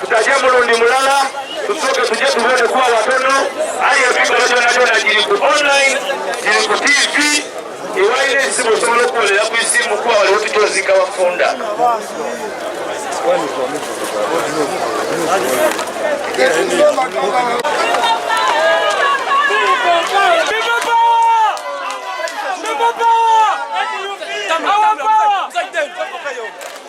tutaje mulundi mulala tusoke tuje tuwone kuwa watono aye ebigalo byona byona giri ku online giri ku tv iwaire esimu osobola okukolera ku isimu kuba waliwo tukyozika wafunda Our power!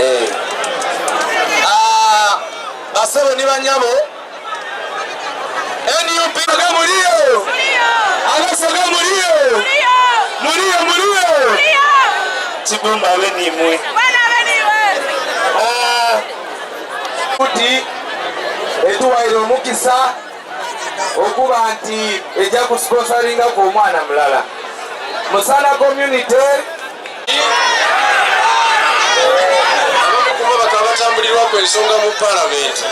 Eh. Ah, basebo ni banyabo nup ga muliyo abaso ga muliyo muliyo muliyo kibumba abe nimwe kuti etuwaire omukisa okuba nti ejja ku sponsoringa ku omwana mulala musana community batambulirwa ku ensonga mu palamenti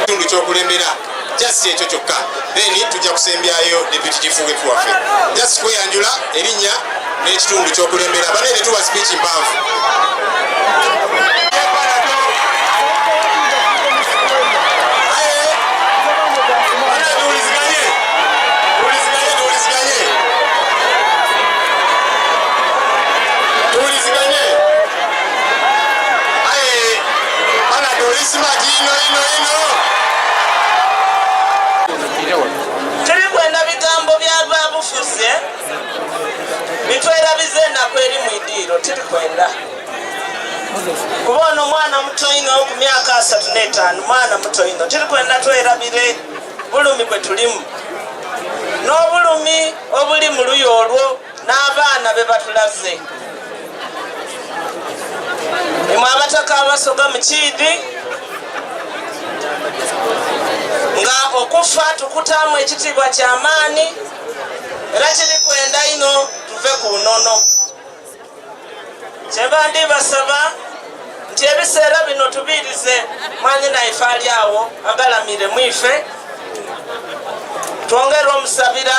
kitundu kyokulembera just ekyo kyokka then tujja kusembyayo deputy chief whip waffe just kweyanjula erinnya n'ekitundu ky'okulembera banaye tetuwa speech mpanvu Hey! tuli kwenda bigambo byavabufuze bitwerabiza enaku eri mu idiiro tiri kwenda kuba ono mwana muto ino ku myaka asatu n'etaano mwana muto ino tiri kwenda twerabire bulumi bwe tulimu n'obulumi obuli mu luyo olwo n'abaana be batulaze imwe abataka abasoga mu kiidi nga okufa tukutaamu ekitiibwa kyamaani era kiri kwenda ino tuve ku nono kyeva ndi basaba nti ebiseera bino tubiirize mwanyi naife ali awo agalamire mwife twongere omusabira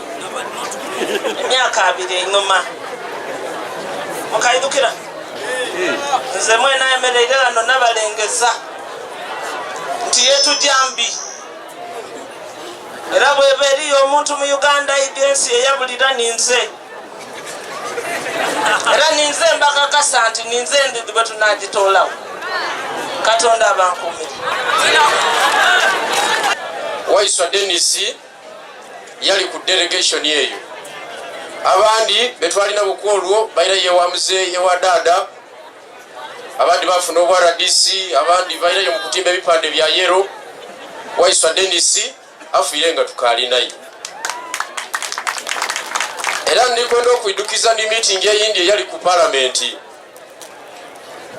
emyaka abiri enyuma mukaidukira nze mwena emereire lano nabalengeza nti yetujya mbi era bweba eriyo omuntu mu uganda idi ensi eyabulira ninze era ninze mbakakasa nti ninze ndi bwetunagitolawo katonda abankumire waiswa denisi yali ku delegation eyo abandi betwalina buku olwo baira yewa muzeeyi ewa daada abandi bafuna obwa rdc abandi bairayo mu kutimba ebipande bya yero waiswa denis afiire nga tukalinaye era ndikwenda okwidukiza ni miitingi eyindi eyali ku palamenti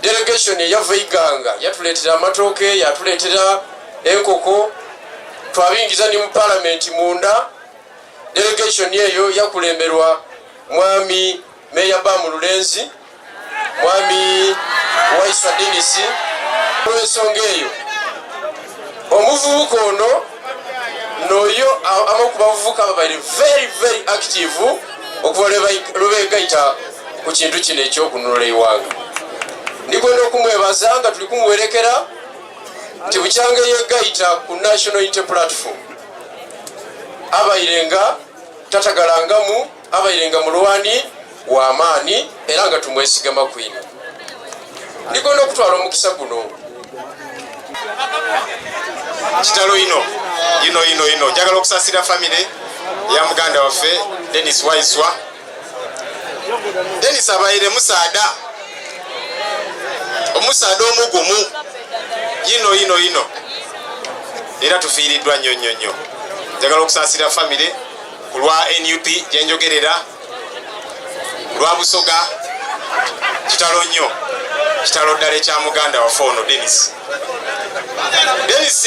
delegation eyava iganga yatuleetera amatooke yatuleetera enkoko twabingiza ne mu palamenti munda delegation eyo yakulemberwa mwami meya bamu lulenzi mwami waisa denisi olwensonga eyo omuvubuka ono noyo abamu ku bavubuka babali very very active okuva lwebegayita ku kintu kino ekyokununula eiwanga ndikwenda okumwebaza nga tuli kumuwerekera nti bukyanga yegayita ku national inte platform abaire nga tatagalangamu abairenga mulwani wamaani era nga tumwesigama kwino ndigona okutwala omukisa guno kitalo ino ino ino ino njagala okusasira famire ya muganda waffe denis waiswa denis abaire musaada omusaada omugumu yino yino yino era tufiiriddwa nnyo nnyo nnyo njagala okusasira famire ku lwa nup gyenjogerera lwa busoga kitalo nnyo kitalo ddala ekya muganda wafe ono denis denis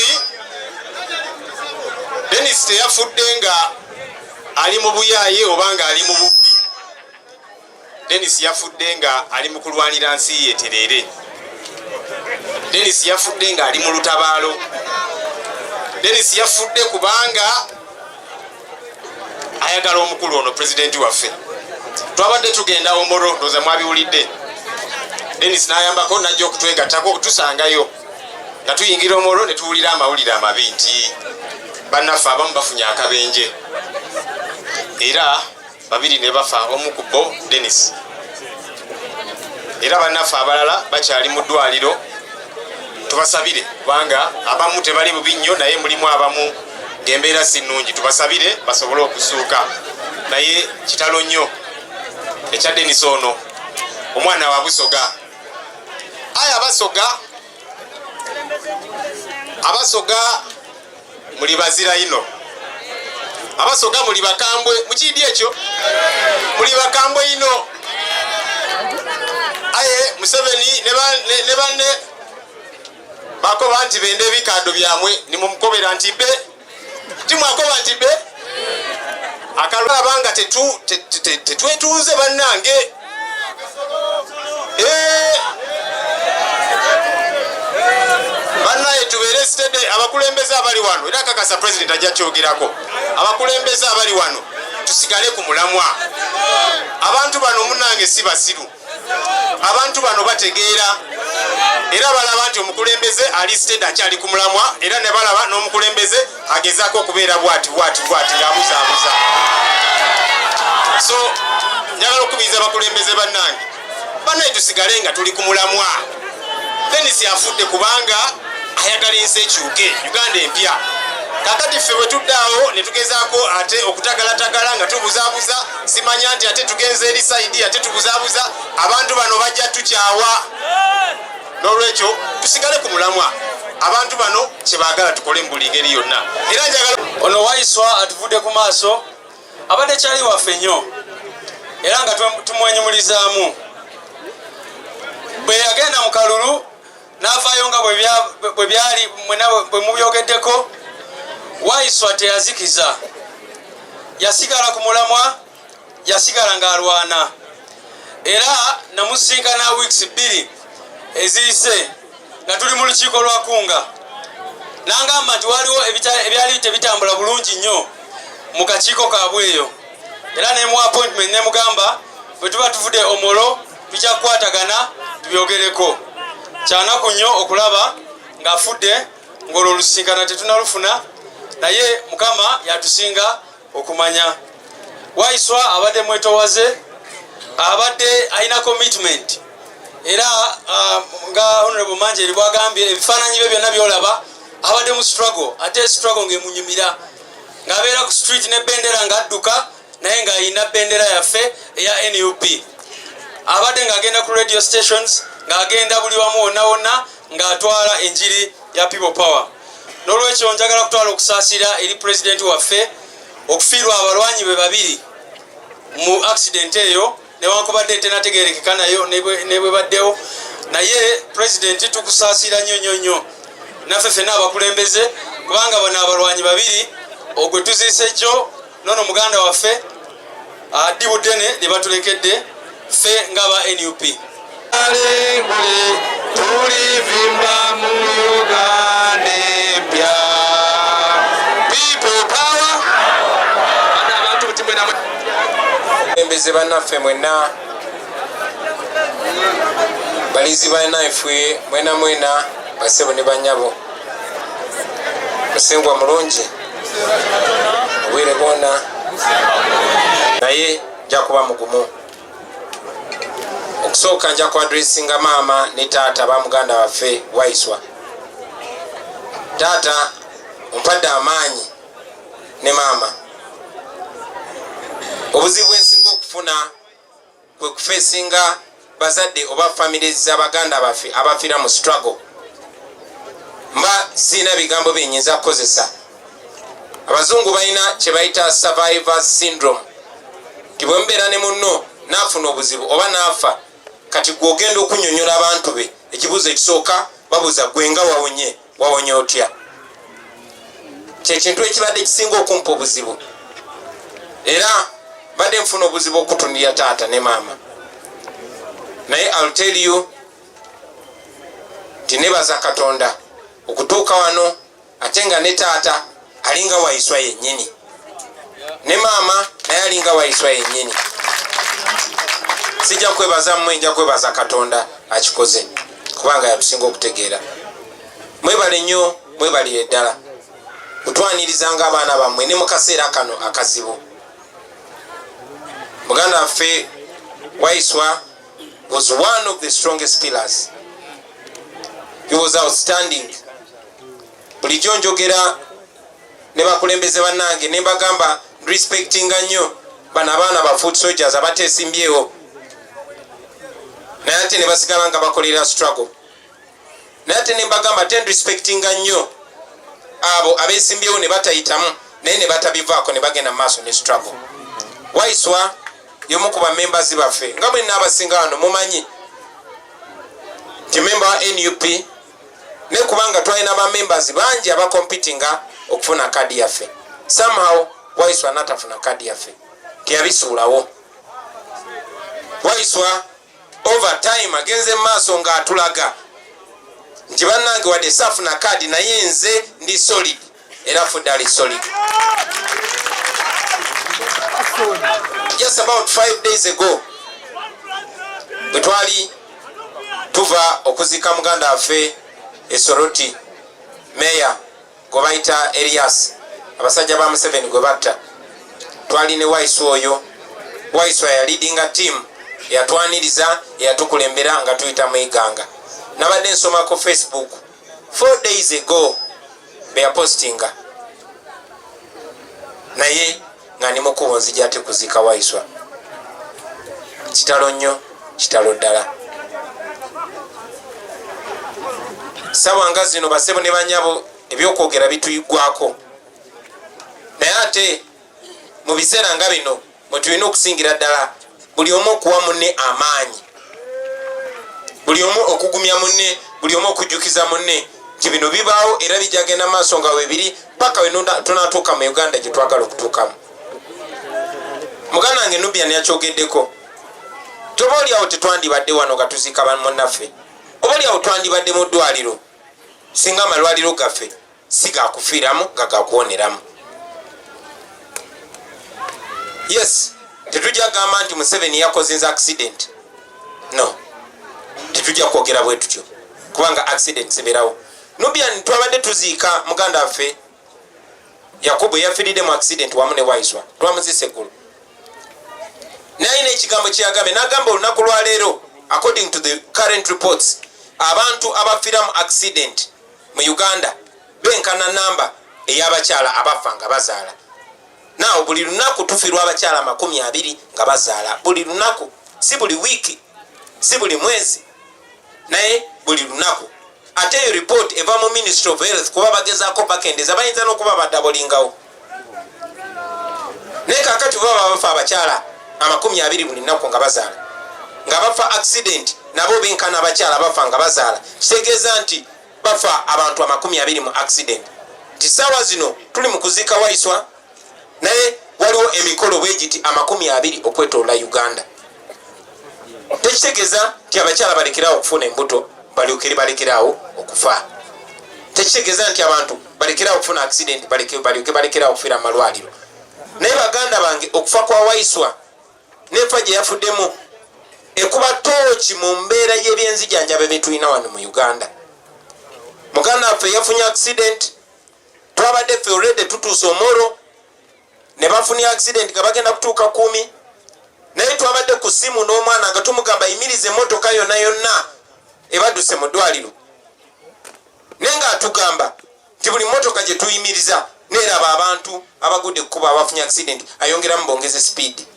denis teyafudde nga ali mu buyaaye oba nga ali mu bubbi Dennis yafudde nga ali mu kulwanira nsi ye tereere. Dennis yafudde nga ali mu lutabaalo. Dennis yafudde kubanga ayagala omukulu ono pulezidenti waffe. Twabadde tugenda omoro ndoza mwabiwulidde. Dennis n'ayambako najja okutwegattako okutusangayo nga tuyingira omoro ne tuwulira amawulire amabi nti bannaffe abamu bafunye akabenje era babiri ne bafa omu ku bo denis era banaffe abalala bakyali mu ddwaliro tubasabire kubanga abamu tebali bubi nnyo naye mulimu abamu ngaembeera si nnungi tubasabire basobole okusuuka naye kitalo nnyo ekya denis ono omwana wa busoga aya abasoga abasoga muli bazira ino abasoga muli bakambwe mukindi ekyo muli bakambwe ino aye museveni ne banne bakoba nti bende ebikando byamwe nimumukobera nti be timwakoba nti be akalaba nga tetwetunze bannange abakulembeze abali wano era kakasa president ajja kyogerako abakulembeze abali wano tusigale ku mulamwa abantu bano munange si basiru abantu bano bategeera era balaba nti omukulembeze ali sted akyali ku mulamwa era ne balaba n'omukulembeze agezaako okubeera bwati bwati bwati ng'abuzaabuza so njagala okukubiriza abakulembeze bannange banaye tusigale nga tuli ku mulamwa denisi afudde kubanga ayagala ensi ekyuke uganda empya kakati ffe bwetuddaawo netugezaako ate okutagalatagala nga tubuzabuza simanya nti ate tugenza eri saidi ate tubuzabuza abantu bano bajja tukyawa n'olwekyo tusigale ku mulamwa abantu bano kyebaagala tukole mu buli ngeri yonna era njagala ono waiswa atuvudde ku maaso abadde kyali waffe nnyo era nga tumwenyumulizaamu bwe yagenda mu kalulu n'avaayo nga bwe byali bwe mubyogeddeko waiswa teyazikiza yasigala ku mulamwa yasigala ng'alwana era namusinkana weeks bbiri eziyise nga tuli mu lukiiko lwa kunga nangamba nti waliwo ebyali tebitambula bulungi nnyo mu kakiiko kaabwe eyo era nemu appointment nemugamba bwe tuba tuvude omolo tujja kukwatagana tubyogereko kyanaku nnyo okulaba ng'afudde ng'olwo olusinkana tetunalufuna naye mukama yatusinga okumanya waiswa abadde mwetowaze abadde alina commitment era um, nga honorable manje eri bwagambye ebifaananyi bye byonna byolaba abadde mu struggle ate struggle ngaemunyumira ng'abeera ku street ne bendera ng'adduka naye ng'alina bendera yaffe eya nup abadde ng'agenda ku radio stations ng'agenda buli wamu wonna wonna ng'atwala enjiri ya people power n'olwekyo njagala kutwala okusaasira eri pulezidenti waffe okufiirwa abalwanyi be babiri mu accident eyo newankubadde etenategerekeka nayo nebwebaddewo naye pulezidenti tukusaasira nnyo nnyo nnyo naffe fena abakulembeze kubanga bano abalwanyi babiri ogwe tuziise jjo nono muganda waffe addi budene lye batulekedde ffe nga ba nup alengule tulivimba mu uganda empya people power ana abantu butimwena embeze banaffe mwena balinzi banaffe mwena mwena basebo ne banyabo musengwa mulungi obwire bwona naye nja kuba mugumu okusooka nja kuadressinga maama ne taata ba muganda waffe waiswa taata ompadde amaanyi ne maama obuzibu bwensinga okufuna kwe kufeesinga bazadde oba famire za baganda baffe abafira mu struggle mba sirina bigambo byenyinza kukozesa abazungu balina kyebayita survivors syndrome nti bwemubeera ne munno naafuna obuzibu oba naafa kati gwogenda okunyonyola abantu be ekibuuzo ekisooka babuza gwenga wawonye wawonye otya kyekintu ekibadde kisinga okumpa obuzibu era badde nfuna obuzibu okutunira taata ne maama naye alteriyo tinebaza katonda okutuuka wano ate nga ne taata alinga waiswa yenyini ne maama naye alinga waiswa yenyini sijja kwebaza mmwe nja kwebaza katonda akikoze kubanga yatusinga okutegeera mwebale nnyo mwebalire ddala kutwanirizanga abaana bammwe ne mu kaseera kano akazibu muganda waffe waiswa was one of the strongest pillars he was outstanding bulijjo njogera ne bakulembeze bannange ne mbagamba respectinga nnyo bano abaana ba food soldiers abateesimbyewo naye ate ne basigala nga bakolera struggle naye ate ne mbagamba ten respectinga nnyo abo abeesimbyewo ne batayitamu naye ne batabivaako ne bagenda mu maaso ne struggle waiswa yomu ku bamembazi baffe nga bwe naabasinga wano mumanyi nti memba wa nup naye kubanga twalina ba members bangi abakompitinga okufuna kadi yaffe somehow waiswa natafuna kadi yaffe teyabisuulawo waiswa over time agenze mumaaso nga atulaga nti bannange wadde saafuna kadi naye nze ndi solid era afudde ali solid just about five days ago bwe twali tuva okuziika muganda waffe esoroti meya gwe bayita elias abasajja ba museveni gwe batta twali ne waisu oyo waisu ayalidinga tiamu eyatwaniriza eyatukulembera nga tuyita mu iganga nabadde nsoma ku facebook four days ago beyapostinga naye nga ni mukubo nzija ate kuziika waiswa kitalo nnyo kitalo ddala sawa nga zino basebo ne banyabo ebyokwogera bituyigwako naye ate mu biseera nga bino mwe tulina okusingira ddala buli omu okuwa munne amaanyi buli omu okugumya munne buli omu okujjukiza munne nti bino bibaawo era bijagenda maaso nga webiri paka we tunatuuka mu uganda gye twagala okutuukamu muganda wange nubian yakyogeddeko toba oliawo tetwandibadde wano nga tuziika bamunnaffe oba oliawo twandibadde mu ddwaliro singa amalwaliro gaffe si gakufiiramu nga gakuwoneramu yes tetujja gamba nti museveni yakozinza accident no tetujja kwogera bwe tutyo kubanga accident ziberawo nubian twabadde tuziika muganda waffe yakubu eyafiridde mu accident wamu ne waiswa twamuzisa eggulu naye nekigambo kyeyagambe nagamba olunaku lwaleero according to the current reports abantu abafira mu accident mu uganda benkana namba eyabakyala abafa nga bazaala naawo buli lunaku tufirwa abakyala amakumi abiri nga bazaala buli lunaku si buli wiiki si buli mwezi naye buli lunaku ate eyo report eva mu ministry of health kuba bagezako bakendeza bayinza nokuba badabolingawo naye kakati baba babafa abakyala amakumi abiri buli nnaku nga bazaala nga bafa accident nabo benkana abakyala bafa nga bazaala kitegeeza nti bafa abantu amakumi abiri mu accident nti saawa zino tuli mu kuziika waiswa naye waliwo emikolo bwegiti amakumi abiri okwetoola uganda tekitegeeza nti abakyala balekerawo okufuna embuto balyokere balekerawo okufa tekitegeeza nti abantu balekerawo okufuna accident balyoke balekerawo okufiira mu malwaliro naye baganda bange okufa kwa waiswa nefa gye yafuddemu ekuba tooki mu mbeera y'ebyenzijanjaba byetulina wano mu uganda muganda waffe yafunye accident twabadde ffe olrede tutuusa omoro ne bafunye accident nga bagenda kutuuka kumi naye twabadde ku simu n'omwana nga tumugamba yimiriza emotoka yonna yonna ebaduse mu ddwaliro naye nga atugamba nti buli motoka gye tuyimiriza neraba abantu abagudde kukuba abafunye accident ayongeramu bongeze speed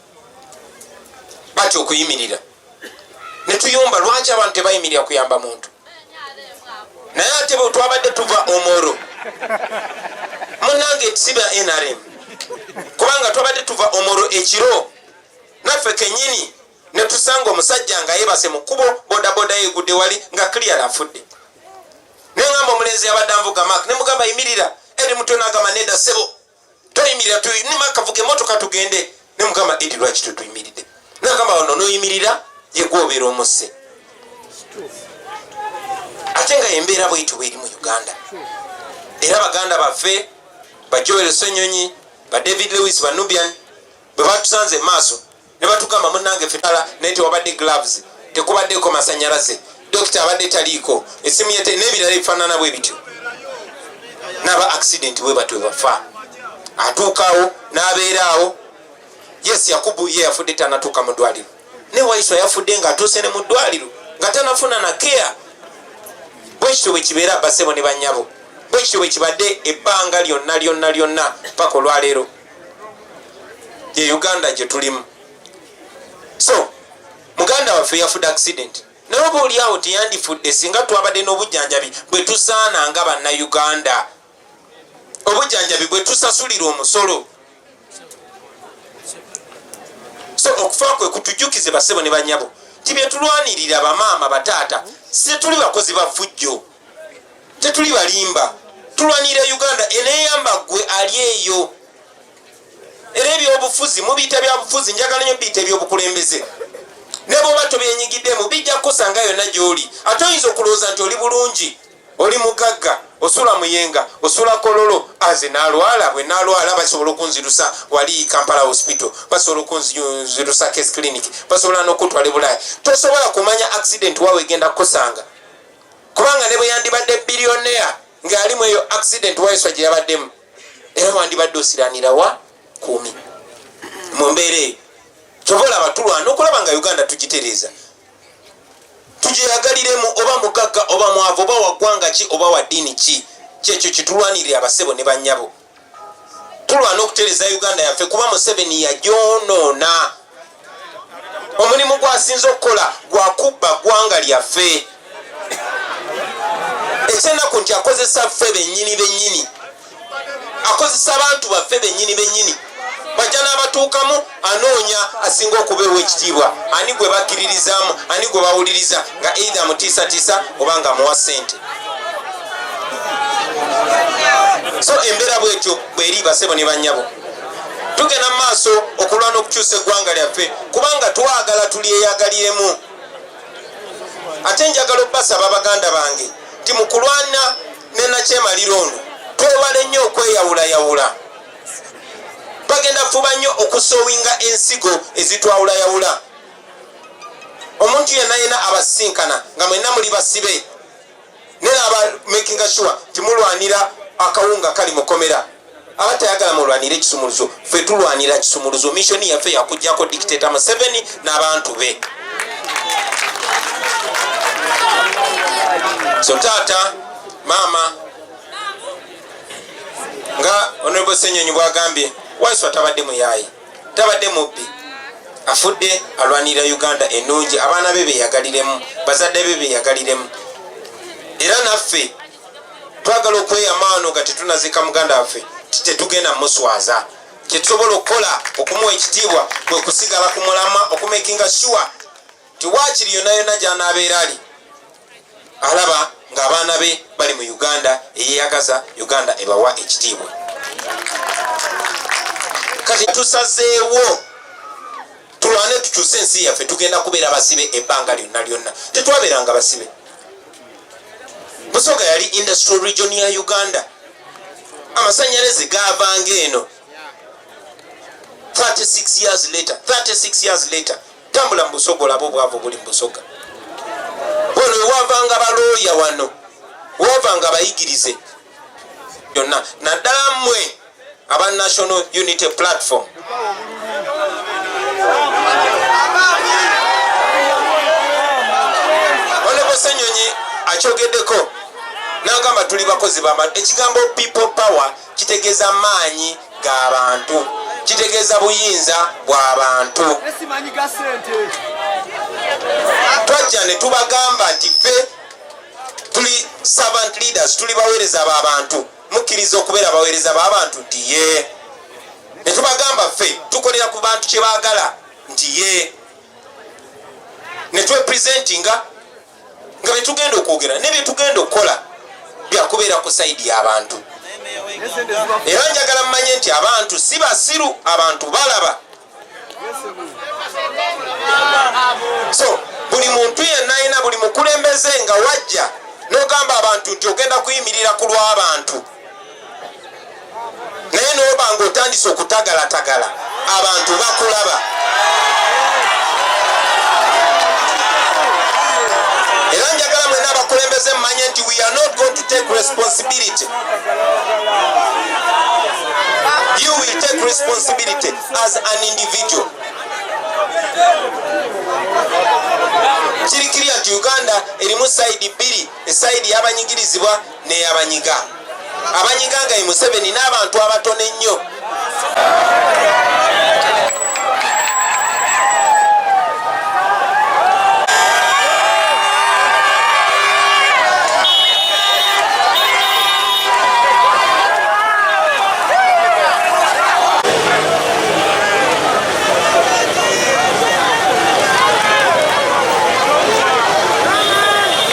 batya okuyimirira netuyomba lwaki abantu tebayimirira kuyamba muntu naye ate bwe twabadde tuva omoro munange siba nrm kubanga twabadde tuva omoro ekiro naffe kenyini netusanga omusajja nga yebase mu kkubo bodaboda yegudde wali nga clear afudde nengamba omulenzi yabadde anvuga mak nemugamba yimirira eri mutwe nagamba neda sebo toyimirira tunima kavuga emotoka tugende ne mugamba edi lwaki tetuyimiridde nagamba wano noyimirira yegwobeera omusse ate nga embeera bwetyo bweri mu uganda era baganda baffe bajoel senyonyi ba david lewis banubian bwe batusanze maaso ne batugamba munnange fetala naye tewabadde gloves tekubaddeeko masanyalaze dokita abadde taliiko esimu yete n'ebirala ebifaanana bwe bityo n'aba accident bwe batyo bafa atuukawo n'abeeraawo yes yakubu ye yafudde tanatuuka mu ddwaliro ne waiso yafudde ng'atuuse ne mu ddwaliro nga tanafuna na kea bwekityo bwe kibeera basebo ne bannyabo bwekityo bwe kibadde ebbanga lyonna lyonna lyonna paka olwaleero ye uganda gyetulimu so muganda waffe yafudde accident naye oba oliawo teyandifudde singa twabadde n'obujjanjabi bwe tusaana nga bannauganda obujjanjabi bwe tusasulira omusolo so okufa kwe kutujjukize basebo ne banyabo nti byetulwanirira bamaama bataata si tuli bakozi ba fujjo tetuli balimba tulwanirira uganda eneyamba gwe ali eyo era ebyobufuzi mubiyita byabufuzi njagala nyo biyita ebyobukulembeze nebwoba tobyenyigiddemu bijja kukusanga yonna gyoli ate oyinza okulowooza nti oli bulungi oli mugagga osula muyenga osula kololo aze nalwala bwe nalwala basobola okunzirusa wali kampala hospital basobola okunzirusa case clinic basobola nokutwala ebulaaya tosobola kumanya accident wawe egenda kukusanga kubanga ne bwe yandibadde billionaire ng'ali mu eyo accident waeswa gye yabaddemu era wandibadde osiranira wa kumi mu mbeera eyo kyova olaba tulwana okulaba nga uganda tugitereeza tugyeyagaliremu oba mugagga oba mwavu oba waggwanga ki oba wa ddiini ki kyekyo kitulwanirira abasebo ne bannyabo tulwana okutereza uganda yaffe kuba museveni yagyonoona omulimu gwasinze okukola gwakubba ggwanga lyaffe ekyenaku nti akozesa ffe benyini benyini akozesa abantu baffe benyini benyini bajja n'abatuukamu anoonya asinga okubeewa ekitiibwa ani gwe bakkiririzaamu ani gwe bawuliriza nga eidha mutiisatiisa oba nga muwa sente so embeera bwetyo bweri basebo ne banyabo tugenda mu maaso okulwana okukyusa eggwanga lyaffe kubanga twagala tulyeyagaliremu ate njagala okubasaba baganda bange ti mukulwana nenakyemaliro ono twewale nnyo okweyawulayawula bagenda kufuba nnyo okusowinga ensigo ezitwawulayawula omuntu yenna yena abasisinkana nga mwenna muli basibe nera aba makinga sure timulwanira akawunga kali mukomera aba tayagala mulwanira ekisumuluzo fe tulwanira kisumuluzo missioni yaffe yakujjako dictata museveni n'abantu be so taata maama nga onobo senyonyi bwagambye waiswa tabadde muyayi tabadde mubbi afudde alwanirira uganda enungi abaana be beyagaliremu bazadde be beyagaliremu era naffe twagala okweyamaano nga tetunazika muganda waffe tetugenda muswaza kyetusobola okukola okumuwa ekitiibwa kwekusigala ku mulama okumakinga sure nti waakiri yonna yonna gy'anaabeera ali alaba ng'abaana be bali mu uganda eyeyagaza uganda ebawa ekitiibwa kati tusazeewo tulwane tukyuse ensi yaffe tugenda kubeera basibe ebbanga lyonna lyonna tetwabeeranga basibe busoga yali industrial region ya uganda amasanyalaze gavanga eno 36 years later 36 years later tambula mubusoga olaba obwavu obuli mubusoga wano ewavanga balooya wano wavanga abayigirize byonna naddala mmwe aba national unity platform onekosenyonyi akyogeddeko nagamba tuli bakozi bama ekigambo people power kitegeeza maanyi ga bantu kitegeeza buyinza bwa bantu twajja ne tubagamba nti ffe tuli servant leaders tuli baweereza ba bantu mukkiriza okubeera baweereza ba bantu nti ye ne tubagamba ffe tukolera ku bantu kye baagala nti ye ne twepresentinga nga byetugenda okwogera ne byetugenda okukola byakubeera ku saidi y'abantu era njagala mumanye nti abantu si basiru abantu balaba so buli muntu yenna alina buli mukulembeze nga wajja nogamba abantu nti ogenda kuyimirira ku lw'abantu naye noba nga otandise okutagalatagala abantu bakulaba era njagala mwena abakulembeze mumanye nti we are not going to take responsibility you will take responsibility as an individual kirikirya nti uganda erimu sayidi bbiri esayidi yabanyigirizibwa neyabanyiga abanyiga nga ye museveni n'abantu abatono ennyo